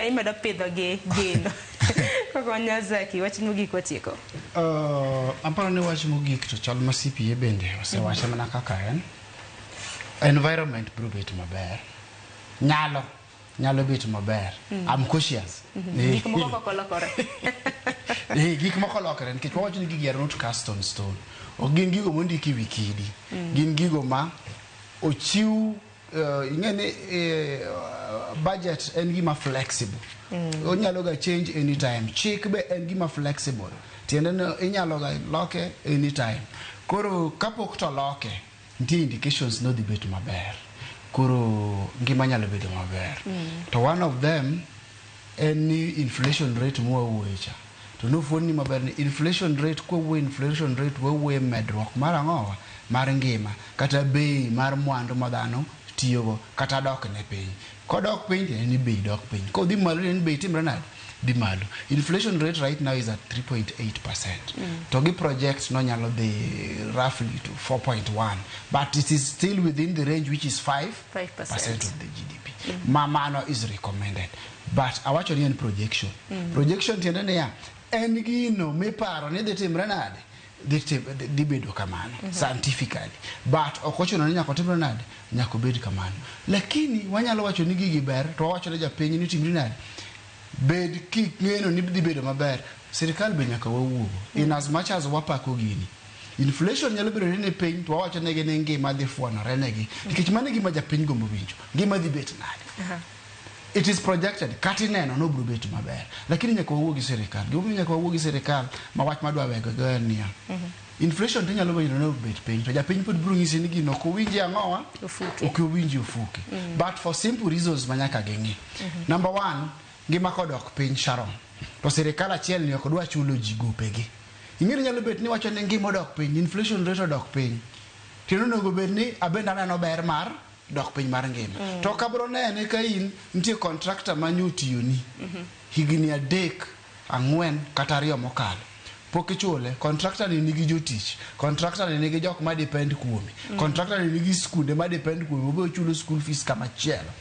imedo pidho gi gin koko nyazaki wach mogik watieko uh, aparo ni wach mogik to chal ma cpa bende osewache mana kaka en environment biro bet maber nyalo nyalo bet maber mm. am cautious mm-hmm. eh, gik moko koko lokore eh, gik moko lokore nikech wawacho ni gigi are not cast on stone ok gin gigo mondiki wikidi mm. gin gigo ma ochiw uh, ing'e ni uh, budget en gima flexible mm. onyalo ga change anytime chik be en gima flexible tiende ni inyalo ga loke anytime koro kapok to loke nitie indications nodhi bet maber koro ngima nyalo bedo maber mm. to one of them en ni inflation rate mwawuoye cha to nofuon ni maber ni inflation rate kwawuoye inflation rate wawuoye medruok mar ang'owa mar ngima kata bei mar mwandu ma dhano tiyogo kata dok ne piny kodok piny tiende ni bei dok piny kodhi malo tiende ni bei timre nade dhi malo inflation rate right now is at 3.8 percent mm. to gi project no nyalo dhi roughly to 4.1 but it is still within the range which is 5 percent of the GDP. Mm. Ma mano is recommended. But awacho ni en projection. Mm. Projection tiende niya en gino miparo ni dhi timre nade dhi bedo kamano mm -hmm. scientifically but ok ochuno ni nyaka otimre nade nyaka obed kamano lakini wanyalo wacho ni gigi ber to wawacho ne japiny ni timri nade bed king'eno ni dhi bedo maber sirikal be nyaka wawuogo in as much as wapako gini Inflation nyalo bedo ni ni piny to wawacho negi ni ngima dhi fwanore negi nikech mano e gima japiny gombo winjo ngima dhi bet nade it is projected kata ineno ni obiro bet maber lakini nyaka wawuo gi sirikal gimomiyo nyaka wawuo gi sirikal ma wach madwa wegego en niya inflation to inyalo winjo ni obet piny to japiny pod biro nyisi ni gino ok owinji ang'owa Ofuki. ok owinji ofuki but for simple reasons ma nyaka ging'i number one ngima kodok piny sharon to sirikal achiel ni ok dwa chulo ji gopegi Ing'eni nyalo bet ni iwacho ni ngima odok piny, inflation rate odok piny. Kendo onego bed ni abende aneno ber mar dok piny mar ngima. Mm. To kabro nene ka in nitie contractor ma nyo tiyoni. Mm -hmm. Higini adek, ang'wen kata ariyo mokalo. Pok ichule, contractor ni nigi jotich, contractor ni nigi jok ma depend kuome, mm. contractor ni nigi skunde ma depend kuome, obe ochulo school fees kama chielo.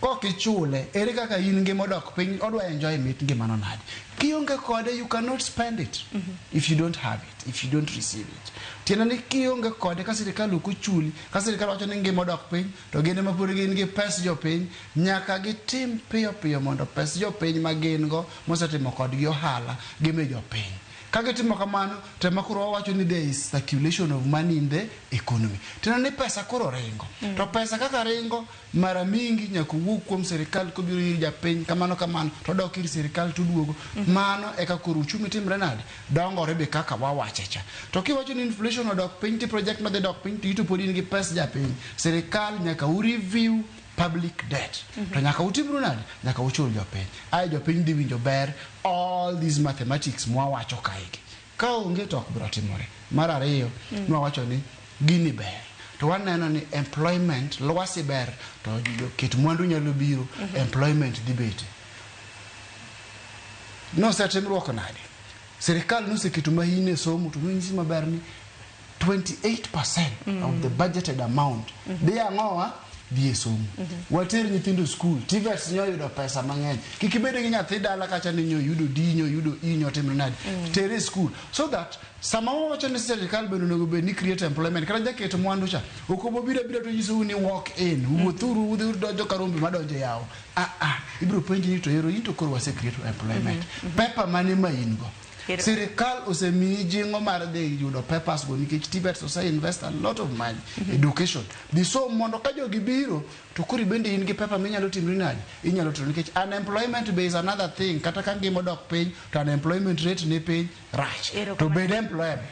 Kok ichule, ere kaka in ngima odok piny, odwa enjoy mit ngimano nade? Kionge kode, you cannot spend it mm -hmm. if you don't have it, if you don't receive it. Tiende ni kionge kode ka sirikal ok ochuli, ka sirikal wacho ni ngima odok piny, to gin ema pod gin gi pes jopiny, nyaka gitim piyo piyo mondo pes jopiny ma gin go mosetimo kodgi ohala gimi jopiny. Ka gitimo kamano, to ema koro wawacho ni there is circulation of money in the economy. Tiende ni pesa koro ringo. Mm. To pesa kaka ringo mara mingi nyaka owuog kuom sirikal kobiro ir japiny kamano kamano to odok ir sirikal to oduogo mhm. mano eka koro uchumi timre nade dongore be kaka wawache cha to kiwacho ni inflation odok piny ti project madhi dok piny to ito pod in gi pes japiny sirikal nyaka u review public debt mhm. to nyaka utimru nade nyaka uchul jopiny aye jopiny dhi winjo ber all these mathematics mwawacho kaegi Ka onge to ok biro timore. Mar ariyo, mm. nwawacho ni gini ber to waneno ni employment lwasi ber to ket mwandu nyalo biro mm -hmm. employment dhi bete nosetimruok nade sirikal noseketo mahine somo to nonyisi maber ni 28% mm. of the mm. budgeted amount mm -hmm. dhi ang'owa dhi e somo mm -hmm. water nyithindo skul tivets nyo yudo pesa mang'eny kik ibed gi nyathi dala kacha ni nyo yudo di nyo yudo i nyo timre nadi mm. tere e skul so that sama wawacho ni sirikal bende onego bed ni create employment kata jaket mwandu cha ok obobiro abira to nyisou ni walk in mm. wuothuru udhi udonjo ka rombe madonjo e yawo ah, ah, ibiro penji ni to ero in to koro wase create employment mm -hmm. pepa mane ma in go Sirikal osemiyi jingo mar dhi yudo papers go nikech Tibet ose invest a lot of money mm -hmm. education. Biso mondo ka jogi biro to kuri bende in gi paper minyalo timri nade? Inyalo timo nikech unemployment be is another thing kata ka ngima dok piny to unemployment rate ni piny rach. To bed employable.